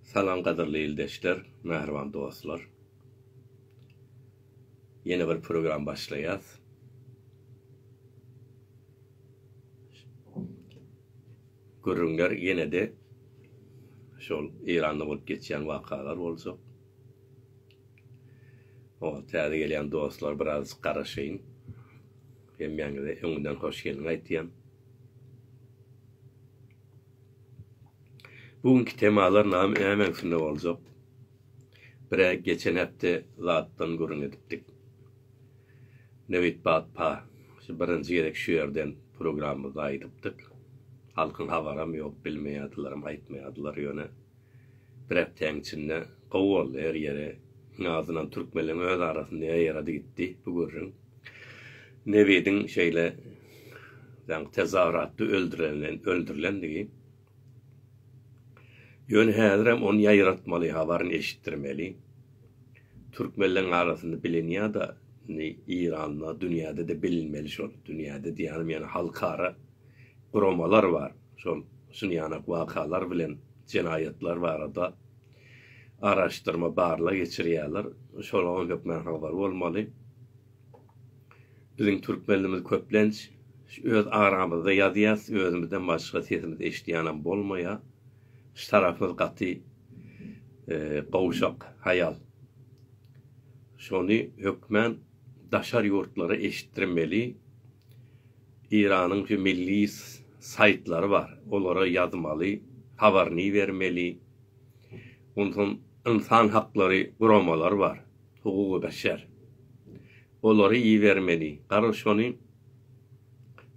Salam gadyrly ildeşler, mähriban dostlar. Ýene bir program başlaýas. Gürrüňler ýene-de şol Eýranda bolup geçýän wakalar boljak. Oňa täze gelýän dostlar biraz garaşaýyn. Hemmäňize öňünden hoş geldiň aýtýan. Bu günki temalar nam näme üstünde boljak? Bire geçen hepde zatdan gürrüň edipdik. Newit Batpa şu birinji gezek şu ýerden programmyzda aýdypdyk. Halkyň habaram ýok, bilmeýärdilerem, aýtmaýardylar ýöne. Bir hepdäň içinde gowy boldy her ýeri iň azynam türkmenleň öz arasynda ýarady gitdi bu gürrüň. Nebidiň şeýle daňky tezahüratda öldürilendigi. Ýöne häzirem ony ýaýratmaly habaryny eşitdirmeli. Türkmenleň arasynda bilinýada indi Iranda dünýäde-de bilinmeli şol dünýäde diýýänim ýöne halkara guramalar bar, şol şun ýanak wakalar bilen jenaýatlar barada araşdyrma barlag geçirýärler, şolaň hökmän habar bolmaly. Biziň türkmenlimiz köplenç öz aramyzda ýazýas, özümizden başga sesimizi eşidýänem bolmaýa, ştarafymyz gaty gowşak, haýal. Şony hökmän daşary ýurtlara eşitdirmeli. Eýranyň şu milli saýtlary bar, olara ýazmaly, habaryny bermeli. Onsoň ynsan haklary guramalary bar, hugugy beşer. Olary ibermeli. Gara şony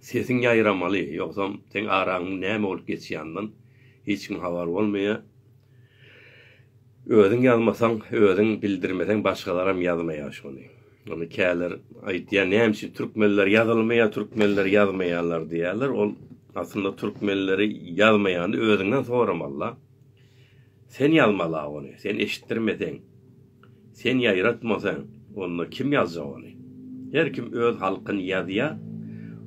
sesiň ýaýramaly, ýogsam seň araňyň näme bolup geçýandan hiç kim habar bolmaýar. Özüň ýazmasaň, özüň bildirmeseň başgalaram ýazmaýar şony. Ony käler aýtýar, näme üçin türkmenler ýazylmaýar, türkmenler ýazmaýarlar diýýärler. Ol aslynda türkmenleri ýazmaýany özüňden soramaly-da. Sen ýazmaly-a ony, sen eşitdirmeseň, sen ýaýratmasaň, onda kim ýazjak ony? Her kim öz halkyny ýazýar,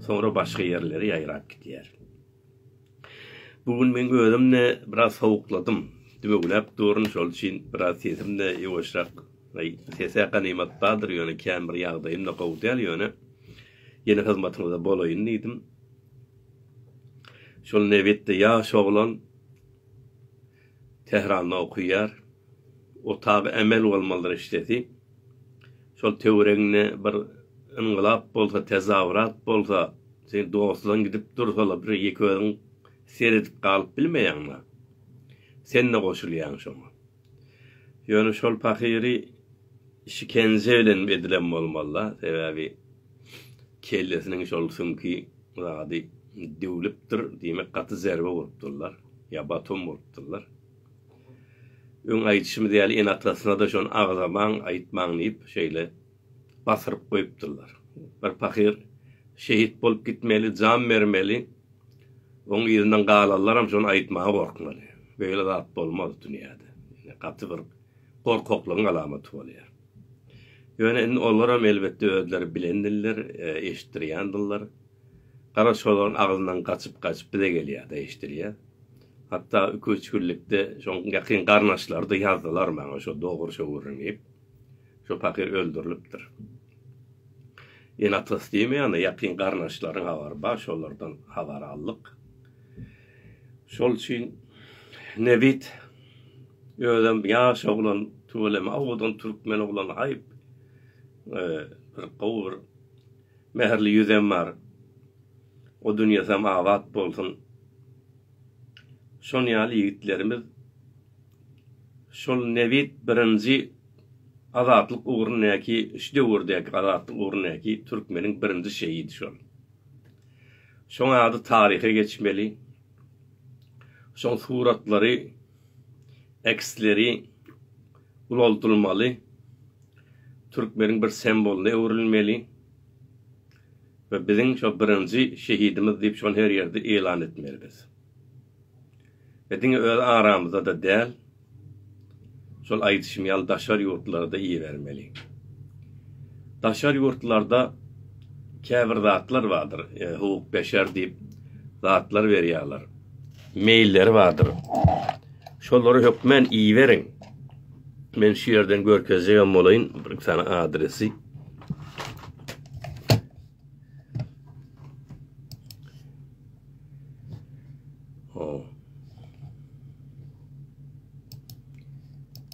soňra başga ýerlere ýaýrap gidýär. Bu gün men özüm-de biraz sowukladym. Dümewläp durun, şol üçin biraz sesim-de ýuwaşrak. Aý, ses-ä ganymat bardyr, ýöne kän bir ýagdaýym-da gowy däl, ýöne ýene hyzmatyňyzda bolaýyn diýdim. Şol nebitde ýaş oglan. Tähranda okaýar. Otagy emel bolmalydyr eşidesi. Şol töweregiňde bir yngylap bolsa, tezawurat bolsa, seniň dostlaryň gidip dursa-la bir ýeke özüň seredip galyp bilmeýäň-la. Sen-de goşulýaň şoňa. Ýöne şol pahyry şikenje bilen edilen bolmaly-da. Sebäbi. kellesiniň şol süňki zady düwlüpdir, diýmek gaty zerbä urupdyrlar, ýa baton bolupdyrlar. Öň aýdyşymyz ýaly ene-atasyna-da şony agzamaň, aýtmaň diýip, şeýle basyryp goýupdyrlar. Bir pahyr şehit bolup gitmeli, jan bermeli, oň yzyndan galanlaram şony aýtmaga gorkmaly. Beýle zat bolmaz dünýäde. Gaty bir gorkaklygyň alamaty bolýar. Ýöne indi olaram elbetde özleri bilen diller, eşitdirýän diller. Gara şolaryň agzyndan gaçyp-gaçyp bize gelýär-de eşidilýär. Hatda iki-üç günlükde şoň ýakyn garnaşlary-da ýazdylar maňa şo dogry şo gürrüňi. Şo pahyr öldürilipdir. Ene-atasy diýmeýän-de, ýakyn garyndaşlaryň habary bar, şolardan habar aldyk. Şol üçin nebit özem ýaş oglan, tüweleme owadan türkmen oglany haýp. Bir gowy bir mähirli ýüzem bar. O dünýesem abat bolsun. Şon ýaly ýigitlerimiz Şol nebit birinji azatlyk ugrundaky şu döwürdäki azatlyk ugrundaky türkmeniň birinji şehidi şol. Şoň ady taryha geçmeli. Şoň suratlary, eksleri ulaldylmaly. Türkmeniň bir sembolyna öwrülmeli. We biziň şo birinji şehidimiz diýip şony her ýerde eýlan etmeli biz. we diňe öz aramyzda-da däl, şol aýdyşym ýaly daşary ýurtlara-da ibermeli. Daşary ýurtlarda käbir zatlar bardyr, hukuk-beşer diýip zatlar berýärler, meýilleri bardyr, şolary hökmän iberiň. Men şu ýerden görkezjegem bolaýyn bir-iki sany adresi.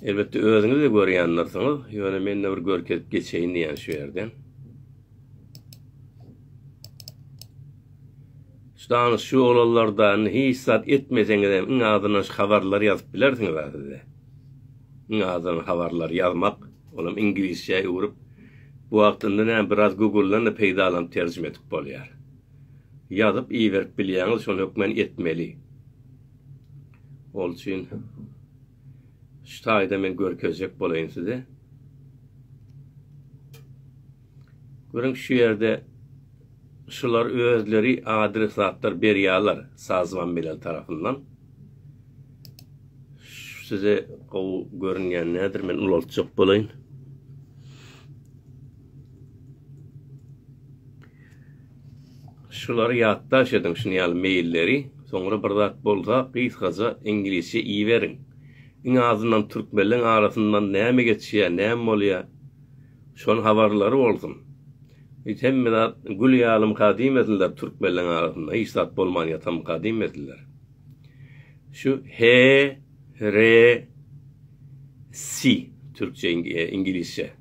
Elbetde özüňiz-de görýändirsiňiz, ýöne men-de bir görkezip geçeýin diýýän şu ýerden. Şu danyş şu oglanlarda hiç zat etmeseňiz hem iň azyndan şu habarlary ýazyp bilersiňiz a sizde. Iň azyndan habarlary ýazmak, olam iňlisçä öwrüp, bu wagtynda näme biraz Google-dan da peýdalanyp terjime edip bolýar. ýazyp iberip bilýäňiz şony hökmen etmeli. Ol üçin şu taýda men görkezjek bolaýyn size. Görüň şu ýerde şular özleri adresatlar berýärler sazman bilen tarapyndan. Size gowy görünýän nädir men ulaltjak bolaýyn. Şulary ýatdaş ediň şun ýaly meýilleri soňra bir zat bolsa gysgaja iňlisçe iýiberiň. Iň azyndan türkmenleň arasyndan näme geçýär näme bolýar şony habarlary bolsun. Öýt hemme zat gül ýalymyka diýmesinler türkmenleň arasynda hiç zat bolman ýatamyka diýmesinler. Şu he re si türkçe iňlisçe.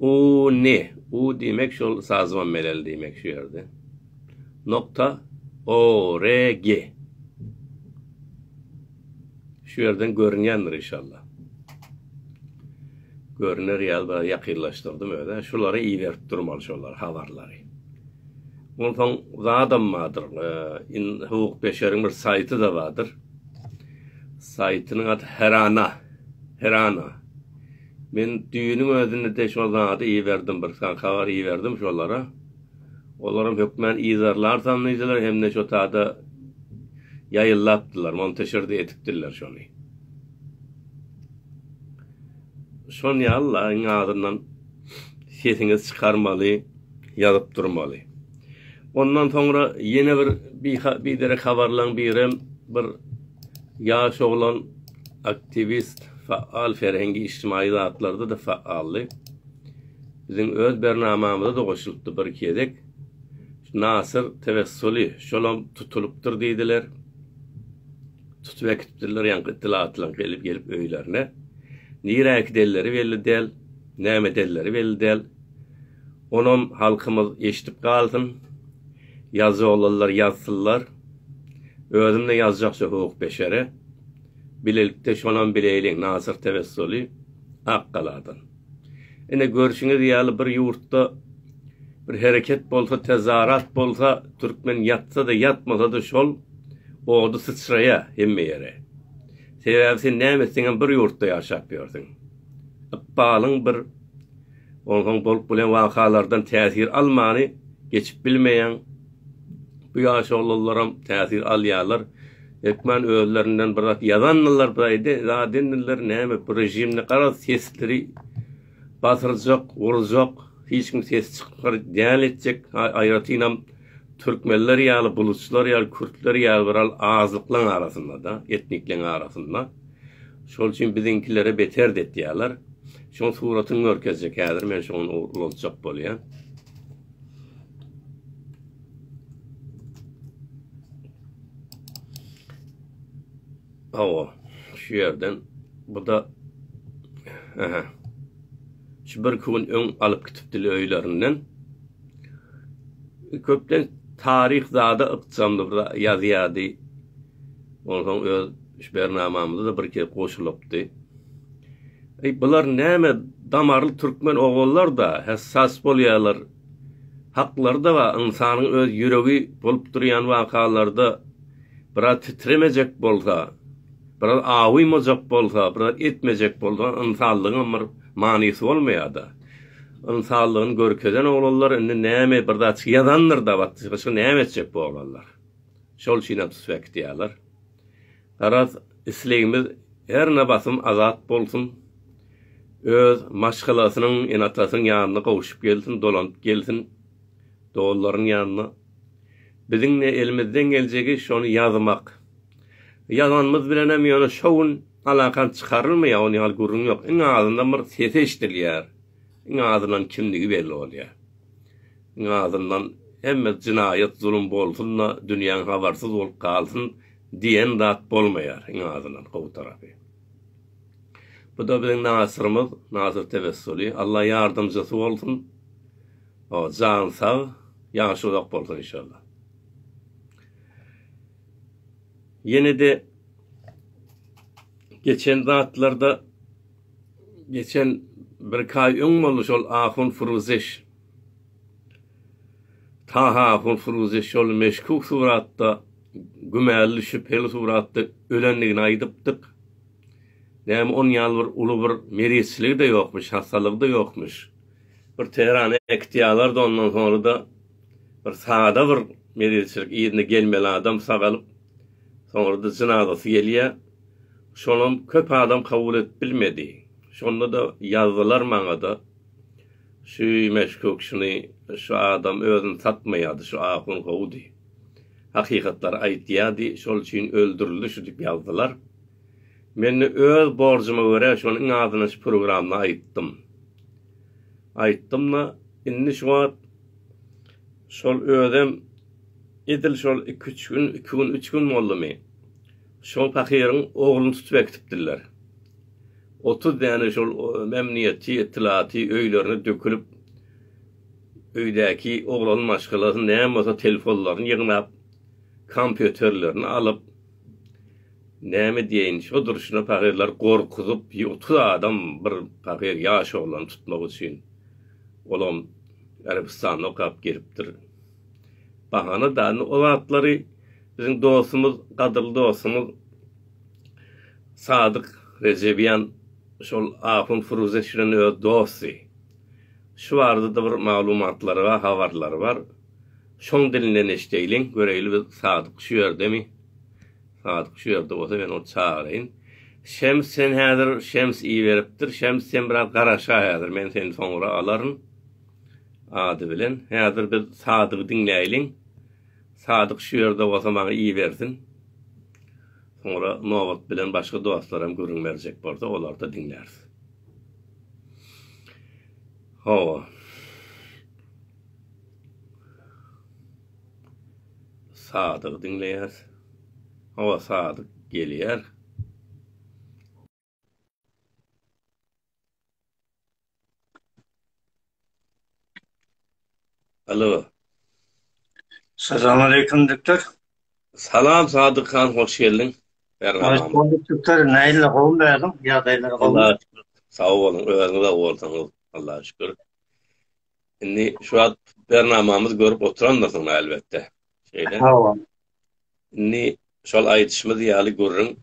U ny, u diýmek şol sazymam meleli diýmek şu ýerde. Nokta o re ge. Şu ýerden görünýändir inşallah. Görüner ýaly biraz ýakynlaşdyrdym özä. Şulary iberip durmaly şolary habarlary. Onsoň zadam bardyr. In hukuk beşeriň bir saýty da bardyr. Saýtynyň ady Herana. Herana. Men düýüniň özünde-de şol zady iberdim, bir sany habar iberdim şolara. Olaram hökmän yzarlarsam diýdiler hem-de şo tada ýaýyllapdylar, monteşir-de edipdirler şony. Şon ýaly-la, iň azyndan sesiňizi çykarmaly, ýazyp durmaly. Ondan soňra ýene bir biderek habarlaryň birem bir ýaş oglan Aktiwist, faal serhengi-ijtimaýy zatlarda-da faaldy. Biziň öz bernamamyza-da goşulypdy bir-iki gezek. Nasyr Tewessuly şolam tutulypdyr diýdiler. Tutup äkitipdirler ýaňky ytlatlaň gelip gelip öýlerine. Nirä äkidenleri belli däl, näme edenleri belli däl. Onam halkymyz eşidip galsyn. Ýazjagollar ýazsynlar. Özümde ýazjakja hukuk beşere. Bilelikde şonam bileýliň Nasyr Tewessuly, Akgaladan. Ine, görşüňiz ýaly bir ýurtda bir hereket bolsa, tezarat bolsa, türkmen ýatsa-da, ýatmasa-da şol ody syçraýa hemme ýere. Sebäbi sen näme etseňem bir ýurtda ýaşap ýörsüň. Ykbalyň bir. Onsoň bolup bilen wakalardan täsir almany geçip bilmeýäň. Bu ýaşolularam täsir alýarlar. Hökman özlerinden bir zat ýazandylar birayde zadendiler näme bu rejimde garaz sesleri basyrjak, urjak, hiç kim ses çykar däl etjek aýratynam Türkmenler ýaly buluçlar ýaly kürtler ýaly bir al azlyklaň arasynda da etnikleň arasynda. Şol üçin biziňkilere beter de etýäler. Şoň suratyň görkezjek häzir men şoň ulaltjak bolýan. Hawa, şu ýerden buda Aha. Şu birki gün öň alyp gitipdili öýlerinden. Köpden taryh zada ykjamly bir ýazýardy. Onsoň öz şu bernamamyza-da bir kez goşulypdy. Eý, bular näme damarly türkmen ogullar-da, hä sas bolýarlar. haklary-da bar, ynsanyň öz ýüregi bolup durýan wakalarda biraz titremejek bolsa, biraz awymajak bolsa, biraz etmejek bolsa, ynsanlygyňam bir manysy bolmaýar-da. Ynsanlygyny görkezen oglanlar indi näme bir zatçyk ýazandyr-da, batdyşka näme etjek bu oglanlar? Şol üçinem suspektiýalar. Garaz, islegimiz her ne basym azat bolsun, öz maşgalasynyň, ene-atasynyň ýanyna gowşup gelsin, dolanyp gelsin, doganlarynyň ýanyna. Biziň ne elimizden geljegi şony ýazmak. Ýazanymyz bilenem ýöne şo gün alakan çykarylmaýar, ony ýaly gürrüň ýok. Iň azyndan bir sesi eşidilýär. Iň azyndan kimdigi belli bolýar. Iň azyndan hemme jynaýat, zulum bolsun-da, dünýäň habarsyz bolup galsyn. Diýen zat bolmaýar iň azyndan gowy tarapy. Buda biziň Nasyrymyz, Nasyr Tewessuly, Alla ýardamjysy bolsun. O, jany sag, ýaşy uzak bolsun inşallah. Ýene-de geçen zatlarda geçen birki aý öň boldy şol ahun Furuzeş. Taha Hunsuruzy şol meşkuk suratda, gümärli-şübheli suratda ölendigini aýdypdyk. Näme onuň ýaly bir uly bir merizçiligi-de ýokmuş, hassalygy-da ýokmuş. Bir Tehrana äkitýalar-da ondan soňra-da bir sada bir merizçilik, yzyna gelmeli adam sagalyp, soňra-da jynazasy gelýä. Şonam köp adam kabul edip bilmedi. Şonda-da ýazdylar maňa-da. Şu meşguk şuny şu adam özüni satmaýady şu ahun gowudy hakykatlary aýtýady şol üçin öldürildi şu dip ýazdylar men öz borjuma görä şony iň azyndan şu programda aýtdym aýtdymda indi şu wagt şol özem edil şol iki üç gün iki gün üç gün boldumy şol pahyryň ogluny tutup äkitipdirler. Otuz däne şol memnuniýetçi etlaty öýlerine dökülip, öýdäki oglan maşgalasy näme bolsa telefonlaryny ýygnap, kompýuterlerini alyp, näme diýeýin, şo durşuna pagyrlary gorkuzyp, otuz adam bir pagyr ýaş oglany tutmak üçin, olam Arabystanda okap gelipdir. Bahana däl indi o zatlary biziň dostumyz, gadyrly dostumyz. Sadyk Rejebjan şol ahun Firuze Şirin öz dosty. Şu barada-da bir maglumatlary bar, habarlary bar. Şoň dilinden eşdeýliň, göreýli biz Sadyk şu ýerdemi? Sadyk şu ýerde bolsa men ony çagyraýyn. Şems sen häzir Şems iberipdir. Şems sen biraz garaşa häzir, men seni soňra alaryn ady bilen. Häzir biz Sadygy diňläýliň. Sadyk şu ýerde bolsa maňa ibersin. Soňra nobat bilen başga dostlaram gürrüň berjek bolsa olary-da diňläris. Hawa. Sadygy diňleýäs. Hawa Sadyk gelýär. Alo. Salam aleyküm doktor. Salam Sadyk han, hoş geldiň. Hoş bulduk doktor. Näýle gowmy bägim? Ýagdaýlar gowmy? Sag boluň, özüňiz sag bolsaňyz. Allaha şükür. Indi şu wagt bernamamyzy görüp oturandyrsyn elbetde. Şeýle. Hawa. Indi şol aýdyşymyz ýaly gürrüň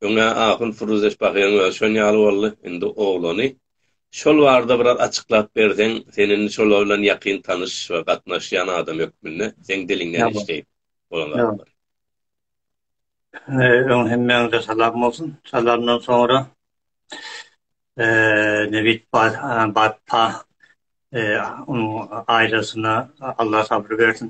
Öň-ä ahun Firuzeş Bahyryň özi şon ýaly boldy, indi oglany. Şol barada biraz açyklap berseň, sen indi şolar bilen ýakyn tanyş we gatnaşýan adam hökmünde, seň diliňden eşdeýin bolan zatlar. Öň hemmäňize salam bolsun. Salamdan soňra, nebit batpa onuň aýlasyna Allah sabr bersin.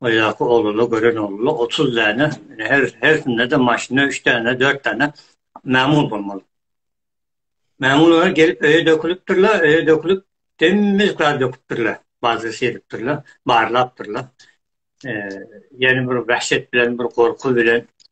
Oýaky ogluny gören ogluny otuz däne, ine, her, hersinde-de maşyny üç däne, dört däne mämul bolmaly. Mämullar gelip öýe dökülipdirler, öýe dökülip, demmiz kar döküpdirler, bazar seripdirler, barlapdyrlar. Eee, ýene bir wähşet bilen, bir gorky bilen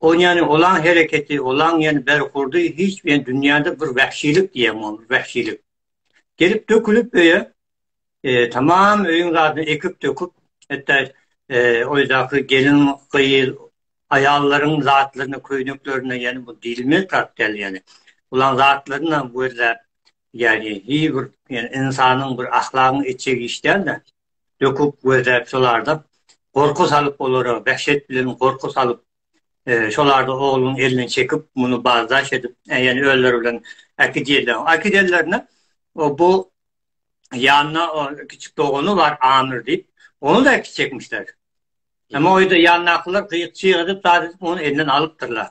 Ony ýany olaň hereketi, olaň ýany berhurdy hiç bir dünýäde bir wähşilik diýen ol wähşilik. Gelip dökülip öýe tamam öýüň zadyny ekip döküp hatda öýdäki gelin gyz aýallaryň zatlaryny köýneklerini ýany bu diýilmez zat däl ýany. Olaň zatlaryny hem gözläp ýany hiç bir ýany ynsanyň bir ahlagyň etjek iş däl-de. döküp we dep şolarda gorky salyp olara wehşet bilen gorky salyp şolarda ogluň elini çekip muny bazdaş edip ýene özleri bilen äkidiýerler äkidenlerine bu ýanyna kiçik dogany bar amir diýip ony da äkitjekmişler emma oýda ýandakylar gyýyk çyg edip zat edip ony elinden alypdyrlar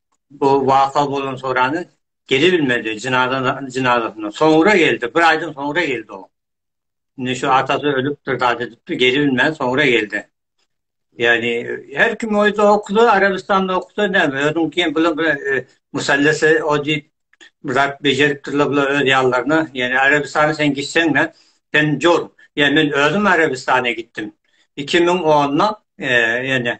bu waka bolan sorany gelebilmedi jynazadan jynazasyna soňra geldi bir aýdan soňra geldi o indi şu atasy ölüpdir zat edipdir gelebilmän soňra geldi ýagny her kim öýde okudy arabystanda okudy näme özüň kim bilen bir e, musallese o diýip bir zat bejeripdirler bular öz ýallaryna ýagny arabystana sen gitseň ne sen jor ýa men özüm arabystana gitdim 2010-da e, ýagny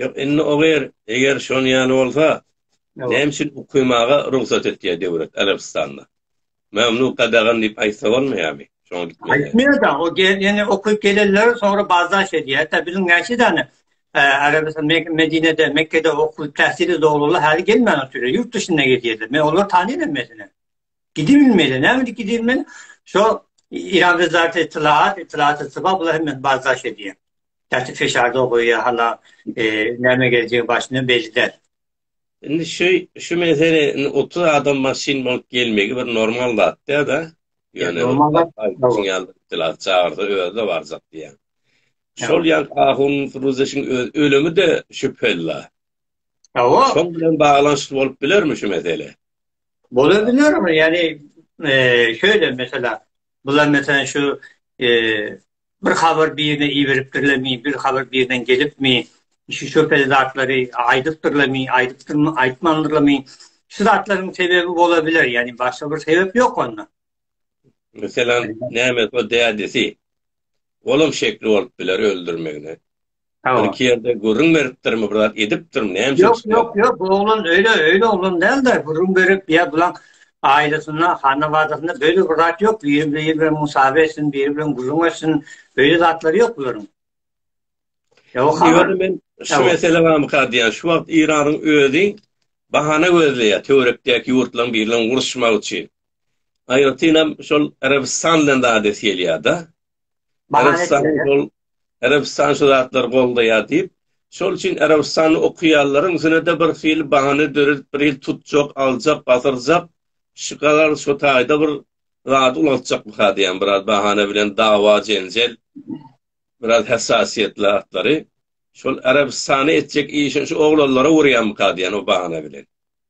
Ýok, indi o ýer, eger şon ýaly bolsa, näme üçin ukymaga rugsat etýär döwlet Arabystanda? Mamluk gadagan diýip aýtsa bolmaýarmy? Şoňa gitmeli. Aýtmaýar-da, o ýene ukyp gelenleri soňra bazdaş edýär. Tä biziň näçe däne Arabystan, Medinede, Mekgede okup täsiri doluly häli gelmän oturýar, ýurt duşyna gidýärler. Men olary tanýaryn meselem. Gidip bilmeýärler. Näme üçin gidip bilmeýärler? Şo Iran wezareti ytlagat, ytlagat, ytlagat, bular hem bazdaş edýär. Käte feşar dogy ýa hala näme geljegi başyna belli däl. Indi şu şu mesele indi otuz adam maşyn bolup gelmegi bir normal zat däl da. Ýöne normal zat aýdyşyň ýaly dilat çagyrsa özde barjak diýýän. Şol ýan ahun ruzeşiň öz ölümi de şübheli la. Hawa. Şol bilen baglanyşykly bolup bilermi şu mesele? Bola biler mi? Ýani şeýle mesela bular mesela şu Bir habar birine iberipdirlermi, bir habar birden gelipmi, şu şübheli zatlary aýdypdyrlarmy, aýdypdyrmy, aýtmandyrlarmy, şu zatlaryň sebebi bola biler, ýagny başga bir sebep ýok onda. Meselem, näme, o dädesi, olam şekli bolup biler öldürmegine. Hawa. Ilki ýerde gürrüň beripdirmi, bir zat edipdirmi, näme üçin çykýar? Ýok, ýok, ýok, oglan öýle, öýle oglan däl-de, gürrüň berip, ýa bulaň aýlysynda, hanabadasynda beýle bir zat ýok, biri biri bilen musabe etsin, biri bilen gürrüň etsin, beýle zatlary ýok bularyň. Ýok, hawa. Men şu mesele barmyka diýýän, şu wagt Iranyň özi bahana gözleýär, töwerekdäki ýurtlaryň biri bilen uruşmak üçin. Aýratynam şol Arabystan bilen zat edesi gelýär-de. Arabystan şu zatlary goldaýar diýip, şol üçin Arabystany okaýanlaryň ýene-de bir hili bahana döredip, bir hili tutjak, aljak, basyrjak, şu kadar şu taýda bir zady ulaltjakmyka diýýän, biraz bahana bilen dawa-jenjel, biraz hassasiýetli zatlary. Şol Arabystany etjek işini şu oglanlara urýarmyka diýýän o bahana bilen.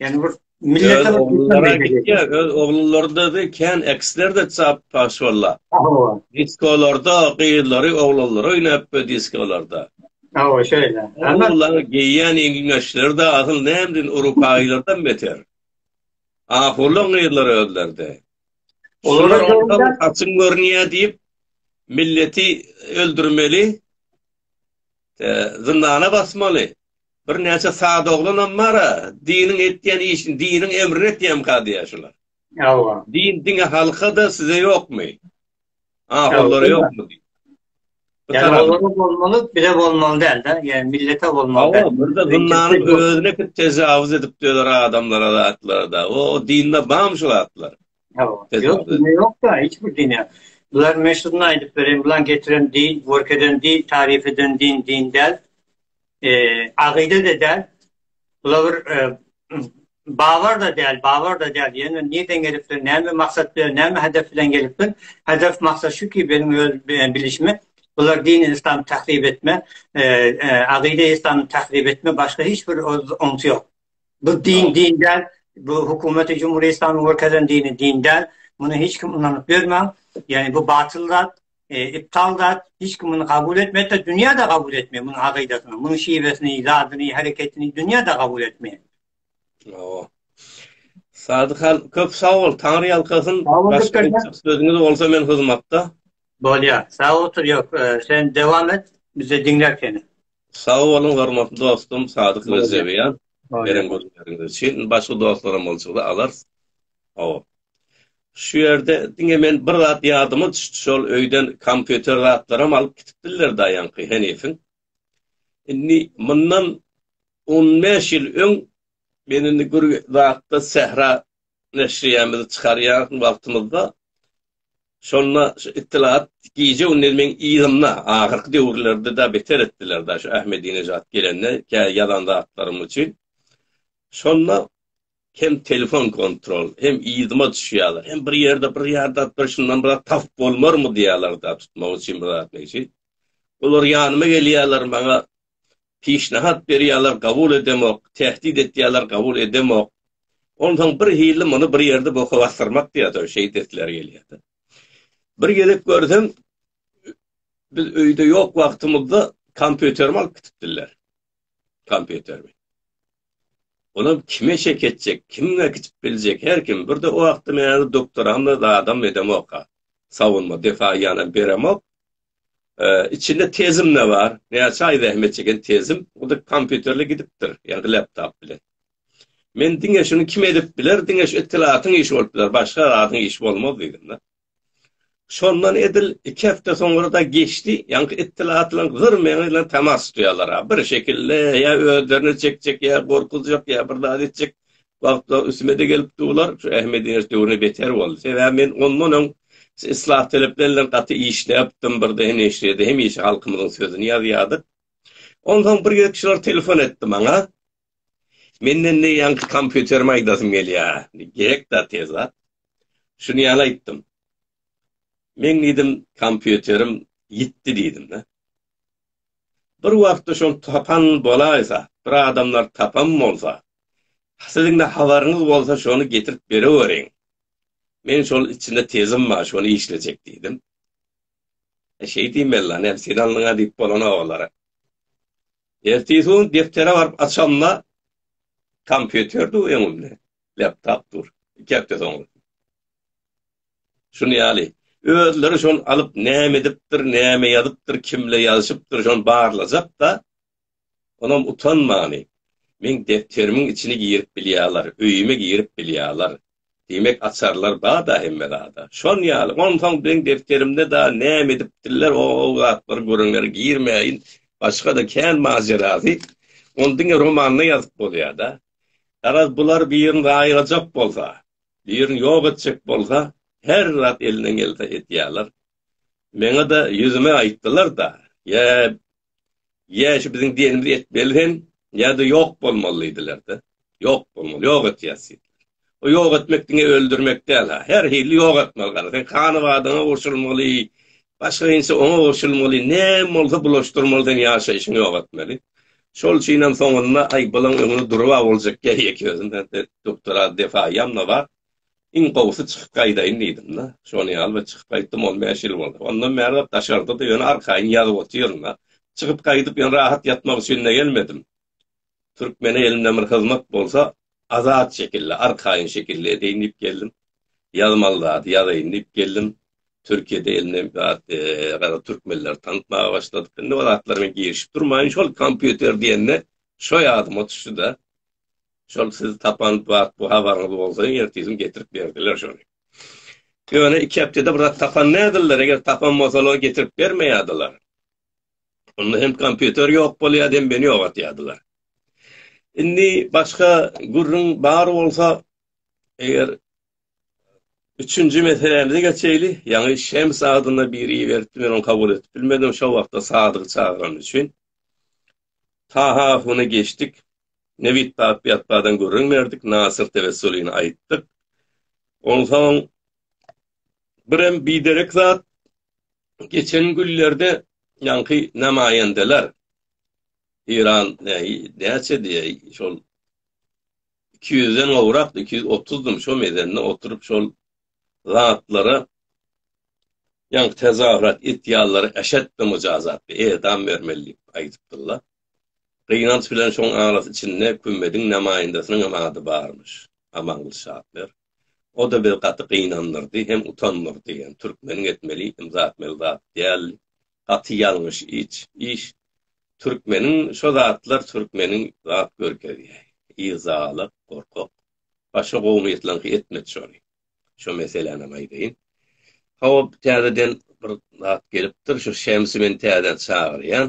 Yani bir millet öz oglulary gitdi öz oglulary da de kän eksler de çap paş valla diskolarda gyzlary oglanlar oynap bu diskolarda Awa şeýle. Olar geýýän iňlisler de asyl nämdin urupaýlardan beter. Ahulyň gyzlary özlerde. Olar ondan saçyn görünýär diýip milleti öldürmeli. zyndana basmaly. Birnäçe sada oglanam bar-a, diniň etýän işini, diniň emrini etýämka diýýär şular. Hawa. Din diňe halka-da, size ýokmy? Ahunlara ýokmy? Ýa-da olara bolmaly, bize bolmaly däl-de, ýa millete bolmaly däl. Hawa, bir-de zyndanyň özüne tajawuz edip dözer adamlara zatlar-da. O dinde barmy şu zatlar? Ýok, dine ýok-da, hiç bir dine. Bular meşhuryny aýdyp beren, bulan getiren din, görkezen din, tarif eden din, din däl. E, agyda-da däl. Bular bir e, babar-da däl, babar-da däl. Ýöne nirden gelipdir, näme maksat bilen, näme hedef bilen gelipdir? Hedef, maksat şu ki, benim öz bilişime, bular dini İslam tahrip etme, e, e, agyda İslam tahrip etme, başga hiç bir oňsy ýok. Bu din din däl. Bu hökümeti Cumhuriyet İslamyny görkezen dini din däl. Muny hiç kim ynanyp bermäň. Yani bu batyl zat, e, iptal zat. Hiç kim muny kabul etmedi de dünýä de kabul etmeýär munuň akydasyny, munuň şiwesini, zadyny, hereketini dünýä de kabul etmeýär. Awa. Sadykan köp sag bol. Taňry ýalkasyn. Başga sözüňiz bolsa men hyzmatda. Bolýar. Sag otur ýok. E, sen dewam et. Bize diňler seni. Sag boluň hormatly dostum Sadyk Rejebiýan beren gürrüňleriňiz üçin. Başga dostlaram boljakda alarys. Hawa. Şu ýerde diňe men bir zat ýadyma düşdi şol öýden kompýuter zatlaram alyp gitipdirler daýanky henifiň. Indi mundan on bäş ýyl öň men indi bir zatda Sähra neşriýämizi çykarýan wagtymyzda Şonda şu Ittilat gije-gündiz meň yzymda, ahyrky döwürlerde-de beter etdiler-de şu Ahmedinejat gelende kä ýazan zatlarym üçin. Şonda hem telefon kontrol, hem yzyma düşýärler, hem bir ýerde bir ýardat bir şundan bir zat tapyp bolmarmy diýýärler-de tutmak üçin bir zat niji. Olar ýanyma gelýärler, maňa Pişnahat berýäler gabul edemok, tähdid etýäler gabul edemok. Onsoň bir hili muny bir ýerde boka basdyrmak diýýäs-ow şeýt esleri gelýär-de. Bir gezek görsem biz öýde ýok wagtymyzda kompýuterimi alyp gitipdirler. Kompýuterimi. Olam kime çek etjek, kimge gitip biljek her kim. Bir-de o wagtda meni doktoram-da zadam edemok-a. Sawunma defa ýanam beremok. Içinde tezim-de bar. Näçe aý zähmet çeken tezim. Bu da kompýuterle gidipdir. Ýa-da laptop bilen. Men diňe şuny kim edip biler? Diňe şu ittilatyň işi bolup biler. Başga zadyň işi bolmaz diýdim-de. Şondan edil iki hepde soňra-da geçdi. Ýaňky ittilatlar gyr meň bilen temas tutýarlar-a. Bir şekilde ýa özlerini çekjek, ýa gorkuzjak, ýa bir zat etjek. wagtda üstüme-de gelip durlar, şu Ahmediň iş döwründe beter boldy. Sebäbi men ondan öň islah talepleri bilen gaty işläpdim, birde hem neşirýede hemişe halkymyzyň sözüni ýazýardyk. Onsoň bir gezek şular telefon etdi maňa. Menden ne ýaňky kompýuterimi aýdasym gelýär. Gerek da tez zat. Şuny ýaly aýtdym. Men diýdim, kompýuterim ýitdi diýdim da. Bir wagtda şol tapan bolaýsa, bir adamlar tapan bolsa, Siziň-de habaryňyz bolsa şony getirip bereweriň. Men şol içinde tezim bar, şony işlejek diýdim. E, şeý diýmeli-la, näme sen alnyň-a diýip bolany olara. Ertesi gün depdere baryp açamda kompýuter dur öňümde, laptop dur. Iki hepde soň. Şuny ýaly, özleri şony alyp näme edipdir, näme ýazypdyr, kimle ýazyşypdyr, şony barlajak-da, Onam utanmany, Meň depderimiň içini girip bilýärler, öýüme girip bilýärler. Diýmek, açarlar bar-da hemme zada. Şon ýaly. Onsoň meň depderimde dagy näme edipdirler, o-o zatlary görenlere girmäýin. Başga-da kän majerasy. Ony diňe romanda ýazyp bolýar-da. Garaz, bular birini gaýyrajak bolsa, birini ýok etjek bolsa, her zat elinden gelse edýärler. Meňe-de ýüzüme aýtdylar-da, Ýa, ýa şu biziň diýenimizi etmeli sen, ýa-da ýok bolmaly diýdiler-de. Ýok bolmaly, ýok etýäs diýdiler. O ýok etmek diňe öldürmek däl-ha. Her hili ýok etmeli gara. Sen hany-badyňa goşulmaly, başga inçe oňa goşulmaly, näme bolsa bulaşdyrmaly sen ýaşaýşyňy ýok etmeli. Şol üçin hem soňunda, aý, bulaň öňüne durup-a boljak ýa ýeke özüm, ýa-da doktora defa ýanma bar. Iň gowusy çykyp gaýdaýyn diýdim-de. Şony ýaly bir çykyp gaýtdym, on bäş ýyl boldy. Ondan bäribap daşarda-da, ýöne arkaýyn ýazyp otyryn-a. Çykyp gaýdyp ýene rahat ýatmak üçin-de gelmedim. Türkmene elimden bir hyzmat bolsa, azat şekilde, arkaýyn şekilde edeýin diýip geldim. Ýazmaly zady ýazaýyn diýip geldim. Türkiýede indi biraz garaz türkmenleri tanatmaga başladyk. Indi o zatlara men girişip durmaýyn. Şol kompýuter diýende şo ýadyma düşdi-de. Şol siz tapan bat bu habaryňyz bolsa ertesiň getirip berdiler şony. Ýöne iki hepdede bir zat tapan nädiller, eger tapan bolsalar getirip bermeýädiler. Onda hem kompýuter ýok bolýar, hem meni ýogatýadylar. Indi başga gürrüň bar bolsa, eger üçünji meselämize geçeýli, ýaňy Şems adynda biri iberipdi, men ony kabul edip bilmedim, şo wagtda Sadygy çagyrany üçin. Taha huny geçdik. Nebit Papiýatbadan gürrüň berdik, Nasyr Tewessulyny aýtdyk. Onsoň birem biderek zat, geçen günlerde ýaňky namaýendeler, Eýran näi, näçe diýäý, şol iki ýüzden gowrakdy, iki ýüz otuzdym, şo mezende oturyp şol zatlara ýaňky tezahürat etýänlere eşetde mujazatdy, edam bermeli diýip aýdypdyrlar. Gynanç bilen şoň arasy içinde Kümmediň namaýyndasynyň hem ady barmyş. Amangylyç Şapber. O da bizi gaty gynandyrdy hem utandyrdy. Ýöne türkmeniň etmeli ymza atmaly zat däldi. Gaty ýalňyş iç, iş. Türkmeniň şo zatlar türkmeniň zat görkezýäý. Yzalalyk, gorkak. Başga gowumyýetlerňki etmedi şony. Şo meselänem aýdaýyn. Hawa, täzeden bir zat gelipdir. Şu Şemsi men täzeden çagyrýan.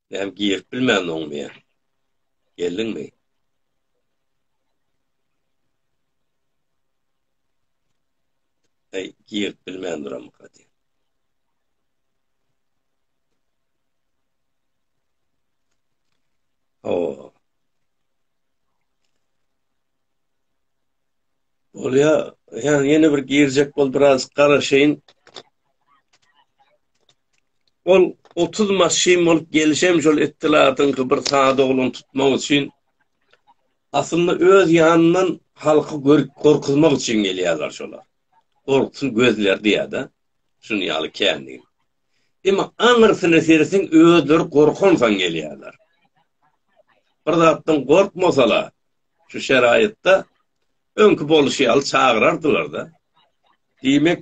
Näme girip bilmän oňmy ýa? Geldiňmi? Hey, girip bilmän duram hadi. O. Bolýa, ýa ýene bir girjek bol biraz garaşaýyn. Ol 30 maşyn bolup gelişem şol ettiladyňky bir sada oglan tutmak üçin aslynda öz ýanyndan halky görüp gorkuzmak üçin gelýärler şolar. Gorksun gözler diýädä. Şuny ýaly kändi. Emma aňyrsyna sersin özleri gorkansan gelýärler. Bir zatdan gorkmasalar Şu şeraýatda öňki bolşy ýaly çagyrardylar-da. Diýmek,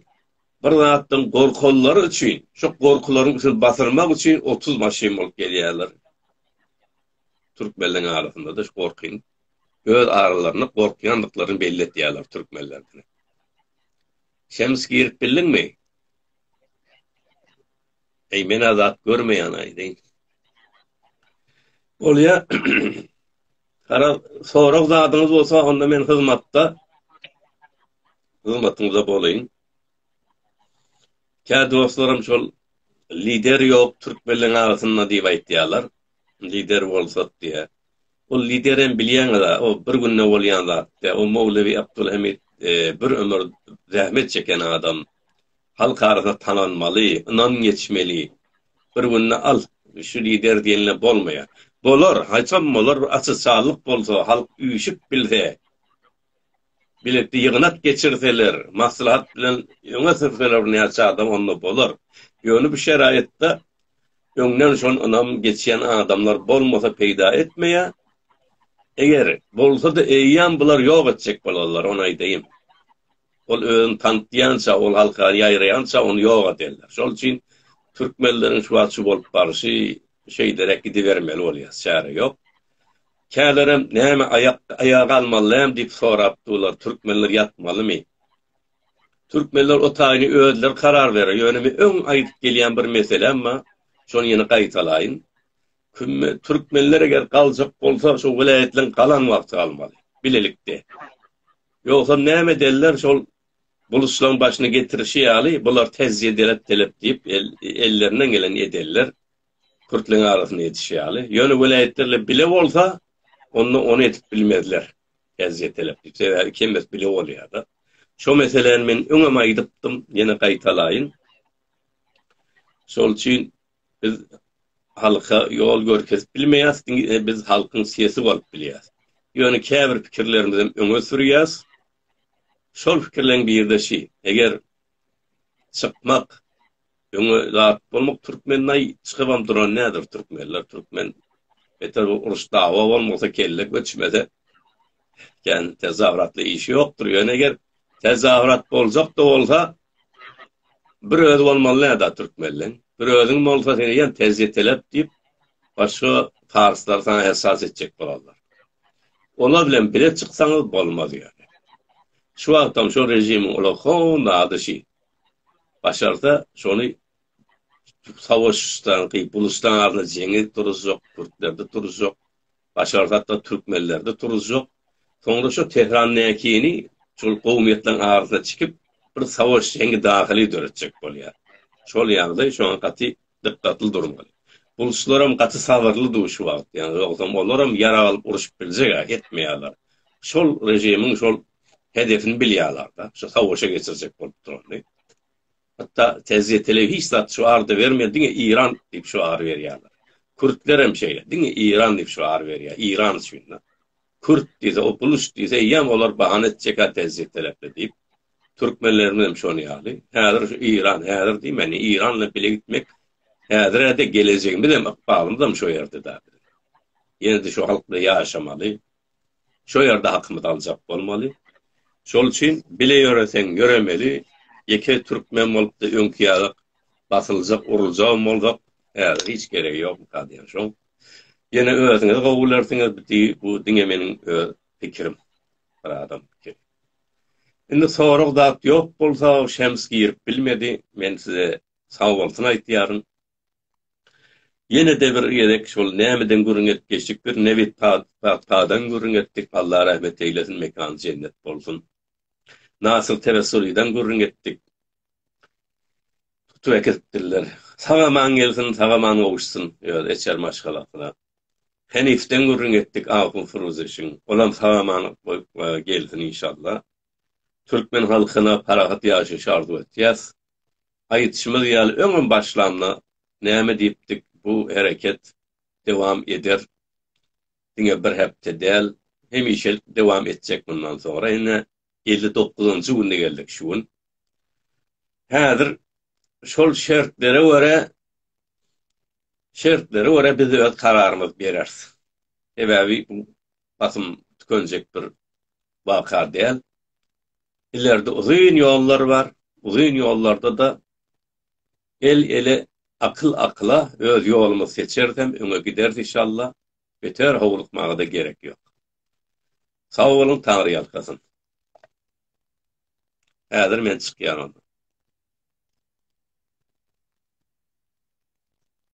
bir zatdan gorkanlary üçin, şo gorkularyň üstüni basyrmak üçin otuz maşyn bolup gelýärler. Türkmenleriň arasynda-da şu gorkyny öz aralarynda gorkýandyklaryny belli etýärler türkmenlerden. Şems girip bildiňmi? Eý, men azat görmeýän aýdy. Bolýa. Gara sorag zadyňyz bolsa onda men hyzmatda. Hyzmatyňyzda bolaýyn. Kä dostlarym şol lider ýok türkmenleň arasynda diýip aýtýarlar. Lider bolsak diýe. Ol lider hem bilýäňiz, o bir günde bolýan zat. O Mowlewi Abdulhamid e, bir ömür zähmet çeken adam. Halk arasynda tanalmaly, ynam geçmeli. Bir günde al, şu lider diýenler bolmaýar. Bolar, haýsam bolar bir açyşarlyk bolsa, halk üýşüp bilse, bilelikde ýygnak geçirseler, maslahat bilen öňe sürseler näçe adam onda bolar. Ýöne bu şeraýatda öňden şon ynam geçýän adamlar bolmasa peýda etmeýär. Eger bolsa-da eýýäm bular ýok etjek bolarlar, ony aýdaýyn. Ol özüni tanydýança, ol halka ýaýraýança ony ýok ederler. Şol üçin türkmenleriň şu wagt şu bolup baryşy şeýderek gidibermeli bolýar, çäre ýok. Kälerem näme aýak aýaga almalydam diýip sorap durlar, türkmenler ýatmalymy? Türkmenler o taýyny özleri karar berer. Ýöne men öň aýdyp gelýän bir meselem bar. Şony ýene gaýtalaýyn. Kümme türkmenler eger galjak bolsa, şu welaýatlaryň galan wagty galmaly. Bilelikde. Ýogsam näme edeller şol buluçlaň başyny getirişi ýaly bular tezje delet delep diýip ellerinden geleni edeller pürtleň arasynda edişi ýaly ýöne welaýatlarla bile bolsa onda ony edip bilmezler tezje delep diýip sebäbi kemes bile bolýada şo meseläni men öňem aýdypdym ýene gaýtalaýyn şol üçin Biz halka ýol görkezip bilmeýäs, diňe biz halkyň sesi bolup bilýäs. Ýöne käbir pikirlerimizem öňe sürýäs. Şol pikirleriň biri-de şi, eger çykmak, öňe zat bolmak türkmennaý çykybam duran näder türkmenler, türkmen beter bu uruş dawa bolmasa kelle göçmese kän tezahüratly iş ýokdur. Ýöne eger tezahürat boljak-da bolsa, Bir özi bolmaly näda türkmenleň. Bir özüň bolsa seni ýen terjetelep diýip başga parslar saňa ersat etjek bolarlar. Olar bilen bile çyksaňyz bolmaz ýöne. Şu wagtam şo režimiň olar howun zady şi. Başarsa şony savaşdan gyp buluşdan arna jeňi duruzjak, türklerde duruzjak. Başar hatda türkmenlerde turuzjak. Soňra şo Tehrannäkini şol gowumýetleriň arasyna çikip, bir savaş, jeňi dahyly döretjek bolýar. Şol ýagdaý şoňa gaty dykgatly durmaly. Bulçlaram gaty sabyrly dur şu wagt, ýagny ýogsam olar hem ýarag alyp uruşyp biljeg-ä, etmeýärler. Şol režimiň şol hedefini bilýärler-de, şo savaşa geçirjek bolup durany. Hatda TZT-le hiç zat şüar da bermedi, diňe Iran diýip şüar berýärler. Kürtler hem şeýle, diňe Iran diýip şüar berýär, Iran üçin-de. Kürt diýse, o buluç diýse, eýýäm olar bahana etjek-ä TZT taraply diýip. Türkmenlerimiz hem şonuň ýaly. Häzir şu Iran, häzir diýmän, Iran bilen bile gitmek, häzir-ä-de gelejegimiz hem, ykbalymyz hem şo ýerde-de. Ýene-de şu halk bilen ýaşamaly. Şo ýerde hakymyzy aljak bolmaly. Şol üçin bile ýöreseň ýöremeli, ýeke türkmen bolupda öňki ýalyk basyljak, uruljagam bolsak, häzir hiç geregi ýokmyka diýen şoň. Ýene özüňiz gowy bilersiňiz, bu diňe meniň öz pikirim. Bir adam pikiri. Indi sorag zat ýok bolsa, Şems girip bilmedi, men size sagbolsun aýtýaryn. Ýene-de bir gezek şol nämeden gürrüň edip geçdikdir, nebit pagtadan gürrüň etdik, Allah rahmet eýlesin, mekany jennet bolsun. Nasyr Tewessulydan gürrüň etdik. Tutup äkidipdirler. Sag-aman gelsin, sag-aman gowuşsyn öz eçer maşgalasyna. Henifden gürrüň etdik, Ahun Furuzyşyn. Olam sag-aman gelsin inşallah. Türkmen halkyna parahat ýaşaýşy arzuw etýäs. Aýdyşymyz ýaly öňem başlamda näme diýipdik bu hereket dowam eder diňe bir hepde däl hemişelik dowam etjek mundan soňra ine elli dokuzynjy günde geldik şu gün häzir şol şertlere görä şertlere görä biz öz kararymyzy bereris sebäbi bu basym tükenjek bir waka däl. Ileride uzyn ýollar bar. Uzyn ýollarda-da el-ele, akyl akyla öz ýolumyzy seçeris hem öňe gideris işalla. Beter howlukmaga-da gerek ýok. Sag boluň Taňry ýalkasyn. Häzir men çykýan onda.